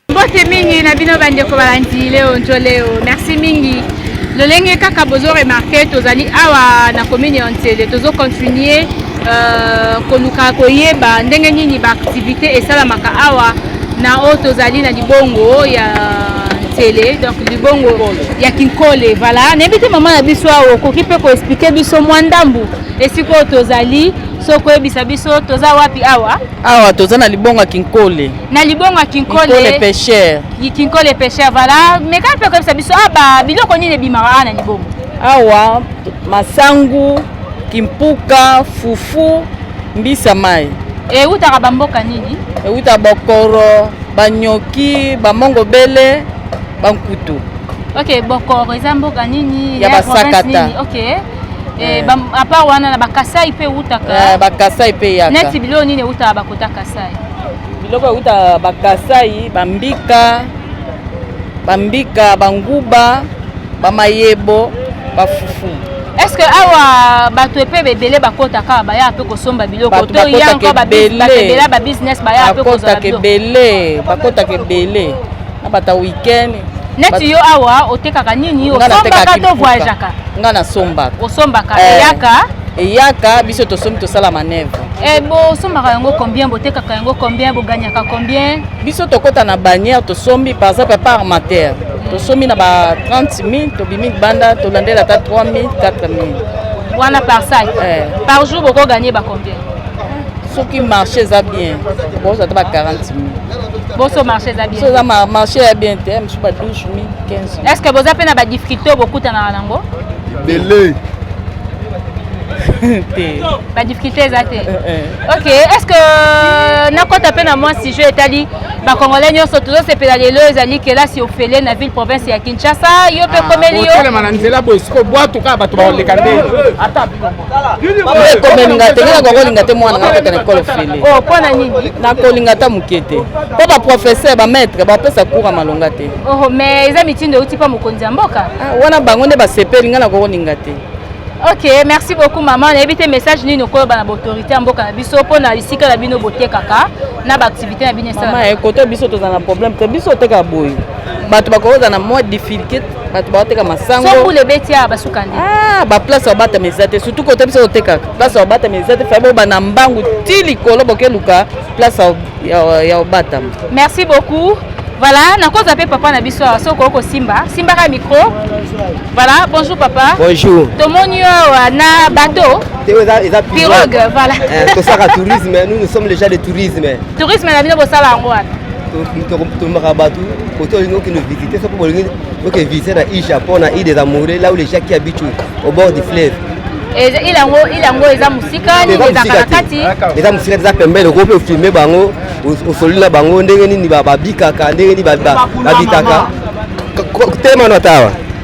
mbote mingi na bino bandeko balandi leo njoleo merci mingi lolenge kaka bozo remarke tozali awa na commune ya nsele tozo continue euh, koluka koyeba ndenge nini baaktivité esalamaka awa na oyo tozali na libongo ya nsele donc libongo ya kinkole voilà nayebi te mama na biso awa okoki mpe koexplike biso mwa ndambu esika oyo tozali so koyebisa biso toza wapi awa awa toza na libongo ya kinkole na libongo ya kinkole pêcheur kinkole pêcheur vala meka mpe koyebisa biso awa ah, biloko nini ebimaka awa na libongo awa masangu kimpuka fufu mbisa mai ewutaka bamboka nini ewuta bokoro banyoki bamongo bele bankutu ok bokoro eza mboka nini ya basakata ok Eh, eh. apart wana na bakasai mpe eutaka eh, bakasai mpe eyaka neti biloko nini eutaka bakota kasai biloko eutaka bakasai bambika bambika banguba bamayebo bafufu estce awa bato epe ebele bakotaka baya mpe kosomba biloko to yanko bato ebele babusiness baya mpe kozala biloko bakotaka ebele abata weekend neti yo awa otekaka nini osombaka to voyageaka nga nasombaka osombaka eh. eyaka eyaka biso tosombi tosala manevre e eh, bosombaka yango combien botekaka yango combien boganyaka combien biso tokota na bannière tosombi par exemple par matière tosombi na ba 30 000 tobimi libanda tolandela ata 3 000 4 000 wana par sac eh. par jour bokoganye ba combien soki marché eza bien bozwa ata ba 40 000 boso marché eza bien soza marché ya bien te mosusu ba 12 000 15 000 est ce que boza mpe na ba difficulté oyo bokutanaka nango ebele te ba difficulté eza te eh, eh. ok est ce que euh, nakota mpe na mwa sujet etali bakongolais nyonso tozosepela lelo ezali kelasi ofele na ville province ya kinshasa yo mpe ah, komeli yo otelema na nzela boye sikoyo bwatu kaka bato bakoleka nde ata ekomelinga te ngai nakokolinga te mwana ngai akota na ekole ofele oh, nakolinga ata moke te mpo baprofesseur bamaitre bapesa cour ya malonga te oh, mais eza mitindo euti mpa mokonzi ya mboka ah, wana bango nde basepeli ngai nakokolinga te ok merci beaucoup mama nayebi te message nini okoloba na baautorité ya mboka na biso mpo na esika na bino botekaka na baactivité na bino esalaa ekoto biso tozala na problème te biso otekaka boye bato bakoyoka na mwa difficulté bato baoteka masangobule ebeti awa basuka nde ah, baplace ya obatama eza te surtout kote biso otekaka place ya obatama eza te fai bobanda mbangu ti likolo bokeluka place ya obatama merci beaucoup voilà nakoza mpe papa na biso awa soki okosimba simbaka micro voilà bonjour papa bonjour tomoni yo awa na bateau pirogue voilà eh, tosaka tourisme nous nous sommes les gens de tourisme tourisme na bino bosala yango wana tolobaka bato kote olingi okende visite soko bolingi oke visite na île japon na île des amoureux là où les gens qui habitent au bord du fleuve ilango ilango eza mosika nini ezaka na kati eza mosika eza pembeni okoki mpe ofilme bango osololi na bango ndenge nini babikaka ndenge nini babitaka tema na tawa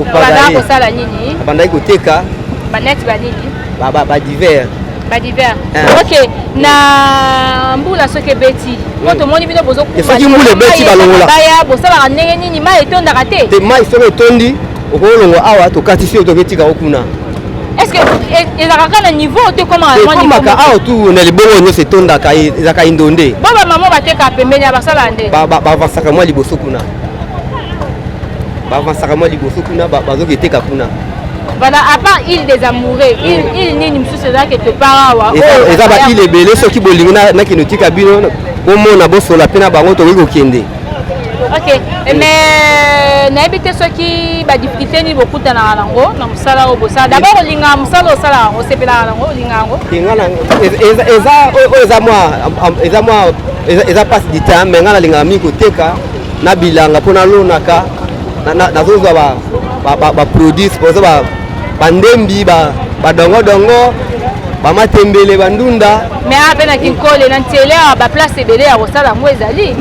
Obandaka kosala nini? Abandaki koteka ba net ba nini? Ba ba ba divers. Ba divers. Eh. Ok, na mbula soki ebeti po hmm. tomoni bino bozo kufa. Soki mbula ebeti balongola. Baya bosalaka ndenge nini? Mai etondaka te? Te mai soki etondi okolongo awa tokatisi yo toketika yo kuna. Est-ce que ezalaka kaka na niveau te koma na niveau? Ekomaka awa tu na libongo nyonso etondaka ezalaka indonde. Bo ba mama batekaka pembeni ya basalaka nde? Ba ba bavasaka mwa liboso kuna. bavansaka mwa liboso kuna bazoketeka kuna bana à part île des amoureux île île nini mosusu eza quelque part awa eza ba île ebele soki bolingi nakende otika bino bomona bosola mpe na bango tokoki kokende ok eh, mais euh, nayebi te soki badifficulté nini bokutanaka nango na mosala oyo bosala dabord olingaka mosala osala yango osepelaka nango olinga yango eza oyo eza mwa eza mwa eza mpasi ditame ngai nalingaka mingi koteka na bilanga mpo nalonaka nazozwa baproduit oza bandembi badongodongo bamatembele bandunda me ape na kinkole na ntele awa baplace ebele ya kosala yango ezali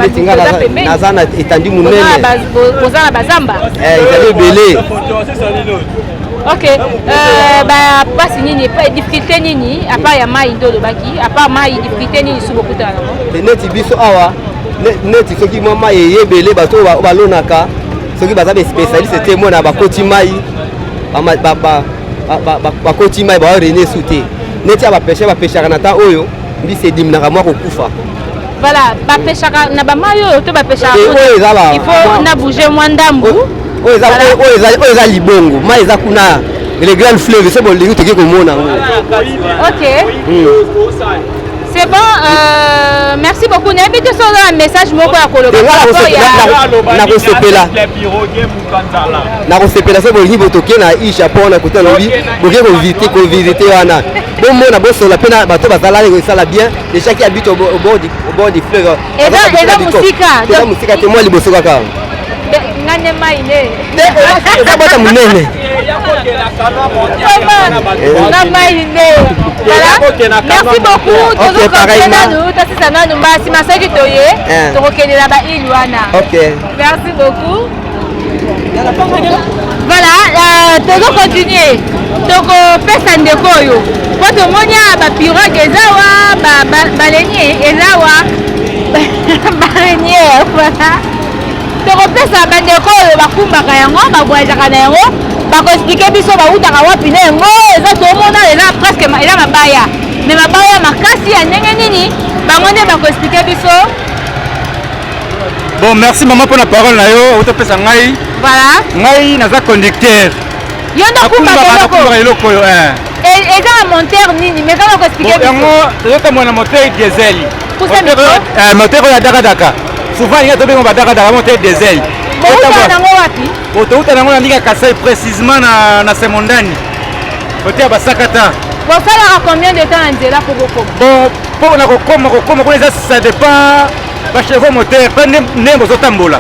naza na etandi moneneoza na bazamba eh, ezali ebele ok euh, bapasi nini difficulté nini apart ya mai nde olobaki apart mai difficulté nini soki bokutana nango neti biso awa neti soki mwa mai eye ebele bato oyo balonaka soki baza bespecialiste te mona bakoti mai bakoti mai bawa rene su te neti ya bapeshe bapeshaka na ntan oyo mbisi ediminaka mwa kokufa voilà bapeshaka na bamai oyo to bapeshaka il faut na bouge mwa ndambu oyo eza libongo mai eza kuna le grand fleuve se bolingi toki komona yango ok hmm. C'est bon, euh, merci beaucoup. Nayebi te soki oza na message moko ya koloba nakosepela nakosepela soki bolingi botoke na i japon na kote alobi boke kovite kovisite wana bomona bosola mpe na bato bazalaki kosala bien déjà ki abite au bord du fleuve eza eza musika eza musika te mwa liboso kaka nga nde mai nde eza bota monene nga mai nde merci beaucoup tozokokende nanu tosisa nanu mbasi masoki toye tokokendela baile wana merci beaucoup Voilà, euh, tozo continuer tokopesa ndeko oyo mpo tomoni a bapiroge eza wa balenie eza wa barenie voilà tokopesa bandeko oyo bakumbaka yango bavoyagaka na yango bakoexplike biso bautaka wapi na yango eza tomona eza presque eza mabaya me mabaya makasi ya ndenge nini bango nde bakoexplike biso Bon, merci maman pour la parole na yo, otopesa ngai. Voilà. Ngai naza conducteur. Yo ndo kumba eloko. Eloko yo eh. Et eza na monteur nini? Mais kama ko expliquer. Bon, yango toyota mwana moteur diesel. Kusa miko. Eh, moteur ya daka daka. Souvent il y a tobengo ba daka daka moteur diesel. Bon, uta nango wapi? Bon, to uta nango na ndika Kasai précisément na na Semondani. Côté ya Basakata. Bon, ça combien de temps en zela pour bokoma? Bon, pour na kokoma kokoma kuna eza ça dépend ba chevaux moteur mpe ndenge bozotambola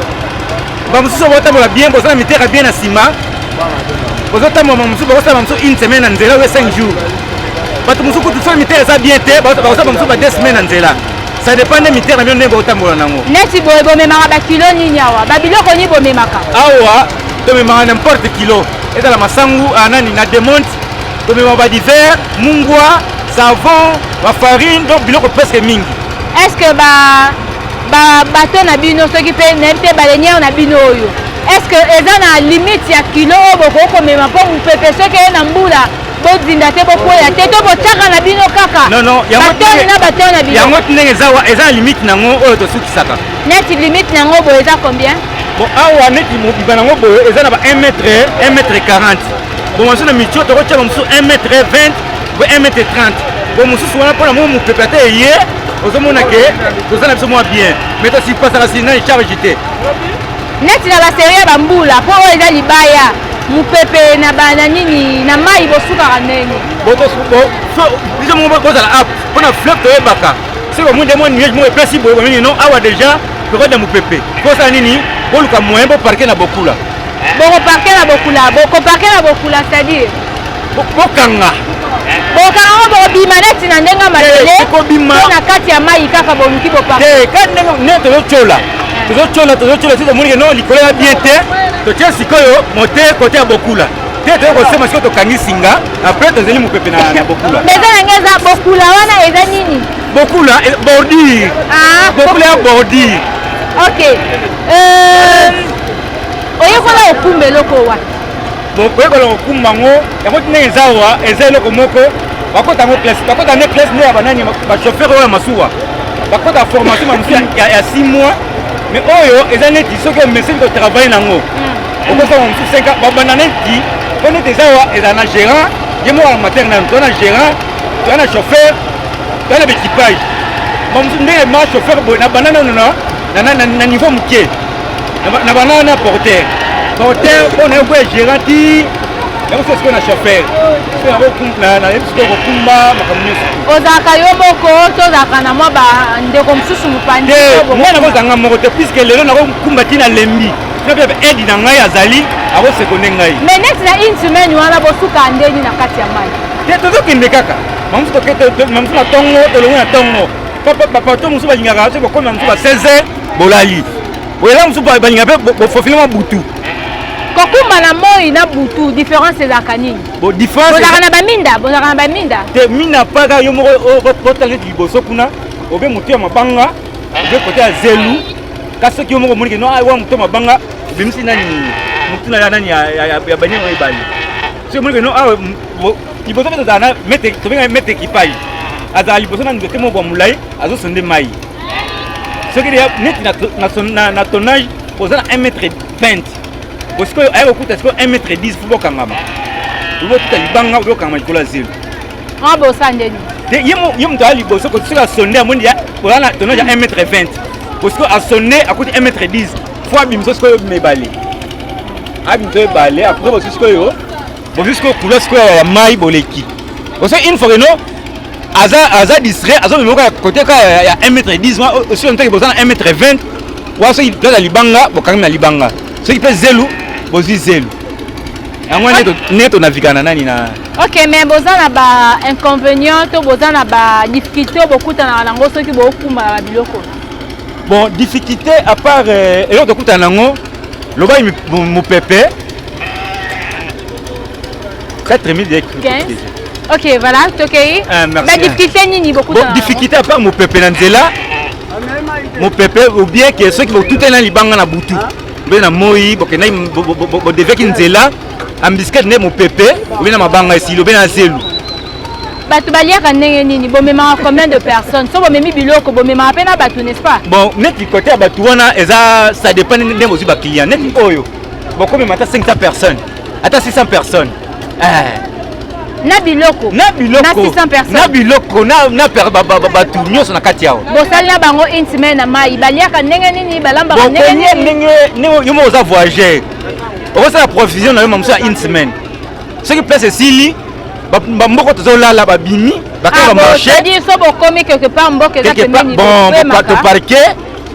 bamosusu botambola bien boza na mitera bien na nsima bozotambola bamosusu bakosala bamosusu une semaine na nzela oyo 5 jours bato mosusu kutu soki mitera eza bien te bakosala bamosusu ba 2 semaine na nzela ça dépend nde mitera bino ndenge botambola nango neti boye bomemaka bakilo nini awa babiloko nini bomemaka awa tomemaka n'importe kilo ezala masangu ah, nani na demonte tomemaka badiver mungwa savon bafarine donc biloko presque mingi est ce que ba ba bateau na bino soki mpe nayebi te baleniere na bino oyo est ce que eza na limite ya kilo oyo bokoki komema mpo mopepe soki eye na mbula bozinda te bokwea te to botyaka na bino kaka batoni na batoni na bino yango ndenge eza na limite na yango oyo tosukisaka neti limite na yango boye eza combien bon awa neti mobiba na yango boye eza na ba 1 mètre 1 mètre 40 bon mosusu na mitio tokotya ba mosusu 1 mètre 20 po 1 mètre 30 po mosusu wana mpona mo mopepe ata eye ozomona ke toza na biso mwa bien mais tosipasaka sinani charge te neti na baserie ya bambula mpo oyo eza libaya mopepe na bana nini na mai bosukaka ndenge biso moko bozala app mpo na fleuve toyebaka soki omoni nde mwa nuage moko epesi boye bomini non awa déjà pekode ya mopepe kosala nini boluka moyen boparke na bokula bokoparke na bokula bokoparke na bokula c'est-à-dire bokanga bokanga ngo bokobima neti na ndenge malele ekobima na kati ya mai kaka boluki bopa te kati ndenge ne tozotyola tozotyola tozotyola te tomoni keno likolo ya bien te totye sikoyo mote kote ya bokula te toyei kosema sikoyo tokangi singa apres tozeli mopepe na bokula eza yango eza bokula wana eza nini bokula eh, bordure ah, bokula ya bordure ok euh, oyekola okumba eloko wapi koyekola kokumba yango yango tina eza awa eza eloko moko bakota yango classe bakota nde classe nde ya banani bachauffeur oyo ya masuwa bakota formation mamosu ya 6 mois mais oyo eza neti soki omeseni kotravaille nango mm. okosala mosusu 5 ans babanda neti mpo neti eza awa ezala na gérant ye moko ya matere nanu toza na gérant toza na chauffeur toza na baequipage mamosu ndenge ma chauffeur boye nabanda nanu na niveau moke na bana na porter porter mpo na yokoya gérant ti yango soki sikoyo na chauffeur nayebi sikoyo kokumba makambo nyonso ozalaka yo moko to ozalaka na mwa bandeko mosusu mopandi mwana yango ozanga moko te puiske lelo nakokumba ti na lembi napepe aide na ngai azali akosekonde ngai me neti na une semaine wana bosuka ndeni na kati ya mai te tozokende kaka mamosu mamosu na ntongo tolongi na ntongo bapato mosusu balingaka soki bakoma mosusu ba 16 bolali oyela mosusu balinga mpe bofofile mwa butu kokumba na moi na butu différence ezalaka nini bozalaka na baminda bozalaka na baminda te minda mpaka yo moko otangi eti liboso kuna obe motu ya mabanga obe kota ya zelu kasi soki yo moko omonike no awa motu ya mabanga obimisi nani motu na ya nani ya baniango ebale soki omonike no awa liboso mpe tozala na mete tobenga mete ekipai azala liboso na nzete moko ya molai azosonde mai soki deja neti na tonnage oza na 1 mètre 20 po sikoyo aya kokuta sikoyo 1 mètre 10 fo bokangama botuta libanga bokangama likolo ya zelo ah, bosa ndeni ye moto aya liboso soki asonde amoni oza na tonnage ya 1 mètre 20 po sikoyo asonde akuti 1 mètre 10 fo abimisa sikoyo mibale abimisa ebale apres bosu sikoyo bozwi sikoyo kula sikoyo ya mai boleki oso une fois keno aza aza distrait azomema kaka kote kaka ya 1 mètre 10 ma osi ontaki boza na 1 mètre 20 wa soki place ya libanga bokangi na libanga soki mpe zelu bozwi zelu yango nde tonavika na nani na ok mais boza na ba inconvénient to boza na ba difficulté oyo bokutanaka na yango soki bokumbaka na biloko bon difficulté à part euh, eloko tokutana na yango lobai mopepe 4 minutes ya crupier. Ok, voilà, tokei. Ah, merci. Ba difficulté nini beaucoup Bon, difficulté à part mopepe na nzela. Mopepe ou bien que ceux qui vont tout est là libanga na butu. Mbe na moi, bokenda bo deveki nzela. Ambisket ne mopepe, ou bien na mabanga esilo, be na zelu. bato baliaka ndenge nini bomemaka combien de personnes so bomemi biloko bomemaka mpe na bato n'est-ce pas bon neti kote ya bato wana eza ça dépend ndenge bozwi baclient neti oyo bokomema ata 500 personnes ata 600 personnes eh. na biloko na biloko na biloko na bato nyonso na kati yawo bosali na bango une semaine na mai baliaka ndenge nini balambaka ndenge nini yo moko oza voyageur okosala provision na yo mamosu ya une semaine soki place esili bamboko tozolala babimi bakaka bamarche ah, so bokomi quelque part mboka eza pembeni bon bato parke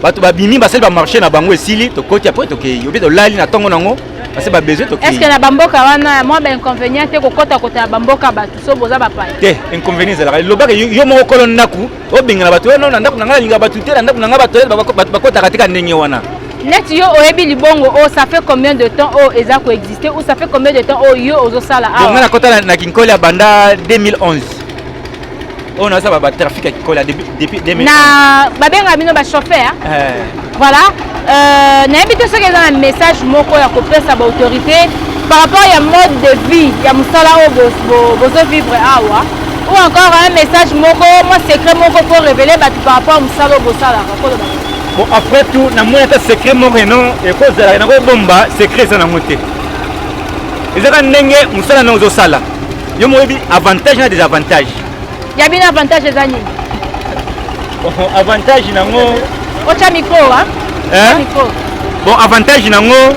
bato babimi basali bamarche na bango esili tokoti apres tokei obi tolali na ntongo nango parce ba besoin tokei est ce que na bamboka wana mwa bainconvénient te kokota kota ya bamboka bato so boza bapaya te inconvénient ezalaka elobaka yo moko kolo ndako obengana bato wana na ndako na ngai nalinga bato te na ndako na ngai bato bakotaka teka ndenge wana neti yo oyebi libongo oyo oh, ça fait combien de temps oyo oh, eza koexiste ou ça fait combien de temps oyo oh, yo ozosala awa ngai nakota na kinkoli ya banda 2011 oyo naza ba trafic ya kikola depuis 2000 na babenga bino ba chauffeur eh. voilà euh, nayebi te soki eza na message moko ya kopesa ba autorité par rapport ya mode de vie ya mosala oyo bozo vivre awa ou encore un message moko mwa secret moko po révéler bato par rapport ya mosala oyo bosalaka koloba bon après tout namoni ata secret moko eno ekozalaka nakobomba secret eza nango te ezaka ndenge mosala na ozosala Yo moyebi avantage na desavantage. Ya bino avantage eza nini? Oh, avantage nango ocha micro wa? Eh? Micro. Bon avantage nango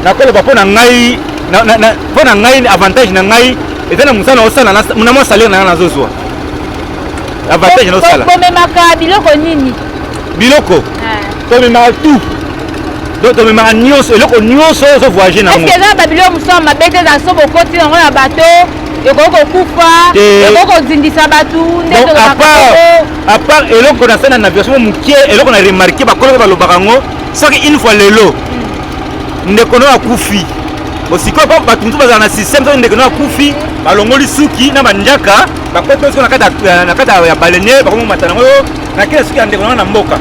nakoloba mpo na ngai mpo na ngai avantage na ngai eza na mosala osala na mwa salaire na ngai nazozwa avantage naosala bomemaka biloko nini biloko eh. tomemaka tout donc tomemaka nyonso eloko nyonso oyo ozovoyage nango eza babilo mosusu ya mabe te eza so bokoti yango na bato ekoki kokufa ekoki kozindisa bato apart eloko na sena na version moke eloko na remarke bakolo mpe balobaka yango soki une fois lelo hmm. ndeko no akufi osikoyo mpo bato mosusu bazala na systeme soki ndeko no akufi balongoli suki na banjaka bakoti na kati ya balene bakomomata nango na kela soki ya ndeko nanga na mboka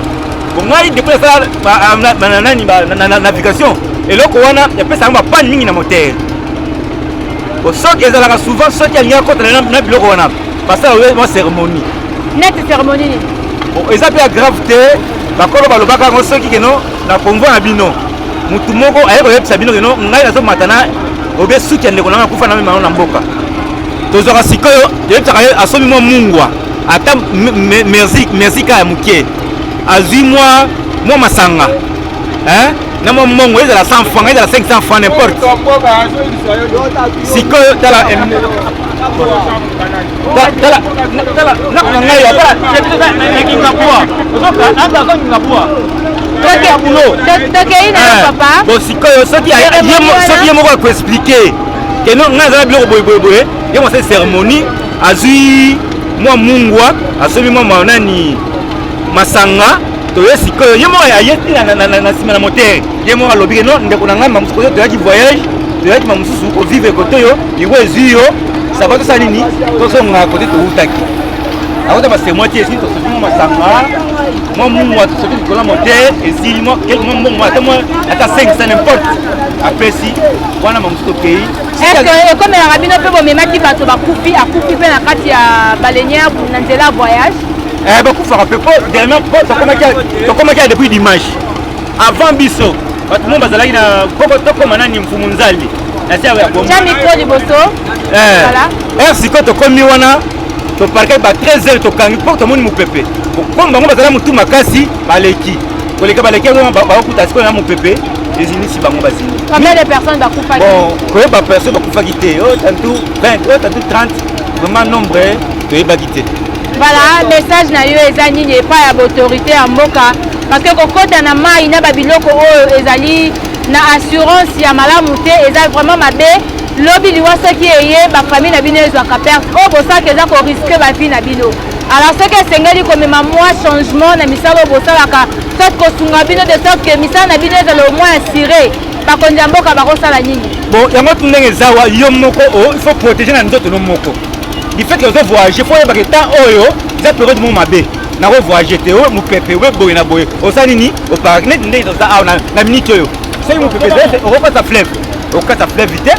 po ngai depuis nasala nani na navigation eloko wana epesaka yango bapane mingi na motere po soki ezalaka souvent soki alingi akotana na biloko wana basala mwa cérémonie neti cérémonie nini eza mpe ya grave te bakolo balobaka yango soki keno na convoi na bino motu moko aye koyebisa bino keno ngai nazomata na obe suki ya ndeko nanga akufa na memano na mboka tozwaka sikoyo toyebisaka ye asomi mwa mungwa ata merci merci kaya moke azwi mwa mwa masanga hein? na mwa mbongo ezala 100 franc ezala 500 franc n'importe sikoyo tala nakangai nakingabua nakingabua tete ya bulo tokei na papa bo sikoyo soki ye moko akoexplike keno ngai azala biloko boyeboyeboye ye mosali cérémonie azwi mwa mungwa asombi mwa manani masanga toye sikoyo ye moko aye na nsima na motere ye moko alobi ke no ndeko na ngai mamosusu koyo toyaki voyage toyaki mamosusu kovivre kote yo liwa ezwi yo sava tosala nini tozonga kote towutaki akota basemwa ti esili tosoki mwa masanga mwa mungwa tosoki likolo ya motere esili mwa mbongo ata 5 sa nimporte apesi wana mamosusu tokei eske ekomelaka bino mpe bomemaki bato bakufi akufi mpe na kati ya balenie na nzela ya voyage eh, bakufaka mpe po dernier po tokomaki ya depuis dimanche avant biso bato mo bazalaki na poko tokoma nani mfumu nzali na sia ya bomtya mikro liboso eh, er sikoyo tokomi wana toparkaki ba 13 heures tokangi mpo tomoni mopepe komi bango bazala motu makasi baleki koleka baleki yango bakokuta sikoyo na mopepe ezinisi bango bazini combien de personnes bakufaki bon koyeba personne bakufaki te o tantu 20 o tantu 30 vraiment nombre toyebaki te voilà message na yo eza nini epai ya baautorité ya mboka parce que kokota na mai na babiloko oyo ezali na assurance ya malamu te eza vraiment mabe lobi liwa soki eye bafamille na bino ezwaka perte oyo bosaka eza koriske bavie na bino alors soki esengeli komema mwa changement na misala oyo bosalaka soit kosunga bino de sorte que misala na bino ezala omoi assure bakonzi ya mboka bakosala nini bon yango tu ndenge eza wa yo moko oh, il faut protéger na nzoto no moko du fait que ozo voyage fo oyebaka temps oyo eza periode moko mabe nako voyage te oyo mopepe oyo boye na boye oza nini oparaki neti ndenge toza awa na minute oyo soki mopepe ezali okokata fleuve okokata fleuve te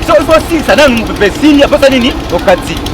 so osilisa nanu mopepe esili aposa nini okati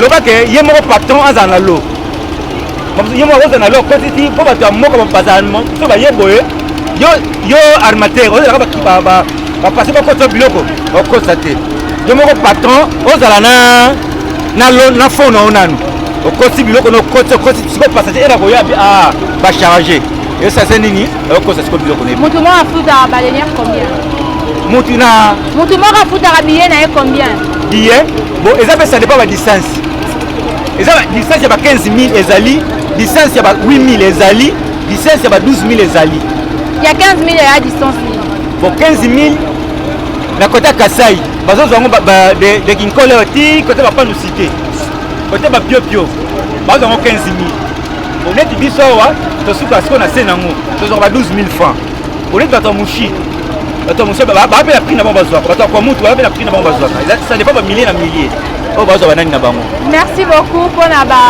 loba ke ye moko patron azala na lo ye moko akozala na lo akoti ti mpo bato ya moko bazala so baye boye yo armateur ozalaka bapase bakotisa biloko bakotisa te yo moko patron ozala na fond na yo nanu okosi biloko na okoti okosi siko passage ena koya ah, bacharge esase nini okosa siko biloko na ye motu moko afutaka baleniere combien motu na motu moko afutaka biye na ye combien biye Bon, eza pe ça dépend ba distance. Eza distance ya ba 15000 ezali, distance ya ba 8000 ezali, distance ya ba 12000 ezali. Ya 15000 ya distance nini? Bon, 15000 na kota Kasai, bazozwa yango de, de Kinkole ti kota ba panu cité. Kota ba pio pio. Bazozwa yango 15000. Bon, neti biso awa tosuka siko na se nango, tozwa ba 12000 francs. oleki bato ya mushi bato ya mushi bape na prix na bango bazwaka bato ya kwa mutu bape na prix na bango bazwaka ça dépend bamillier na millier oyo oh, bazwa banani na bango merci beaucoup mpo na ba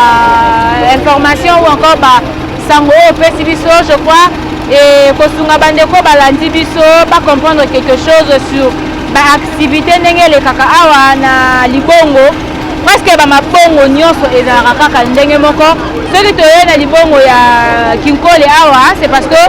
information ou encore ba sango oyo opesi biso je crois e kosunga bandeko balandi biso bacomprendre quelque chose sur baactivité ndenge elekaka awa na libongo Presque ba mabongo nyonso ezalaka kaka ndenge moko. Soki toye na libongo ya Kinkole awa, c'est parce que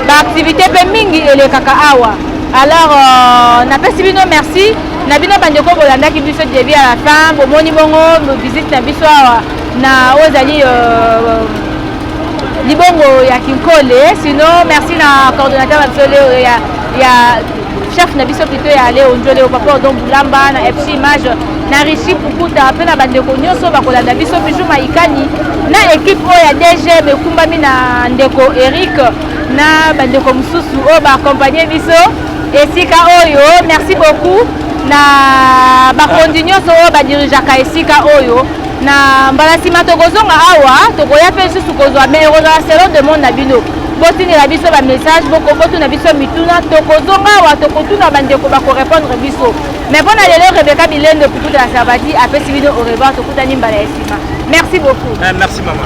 ba activités pe mingi elekaka awa. Alors euh, napesi bino merci na bino bandeko bolandaki biso début à la fin, bomoni bongo visite na biso awa na oyo ezali euh, libongo ya Kinkole. Sinon merci na coordonnateur na biso leo ya ya chef na biso pito ya ale onjole o papa odon bulamba na fc image na richi pukuta mpe na bandeko nyonso bakolanda biso bijou maikani na ekipe oyo ya dgm ekumbami na ndeko eric na bandeko mosusu oyo baakompagne biso esika oyo merci beaucoup na bakonzi nyonso oyo badirigeaka esika oyo na mbala nsima tokozonga awa tokoya mpe lisusu kozwa mai ekozala selon demande na bino botindela biso bamessage botuna biso mituna tokozonga awa tokotuna bandeko bakorepondre biso mais mpo na lelo rebeka bilendo pikuta ya sabati apesi bino au revoir tokutani mbala ya nsima merci beaucoup eh, merci mama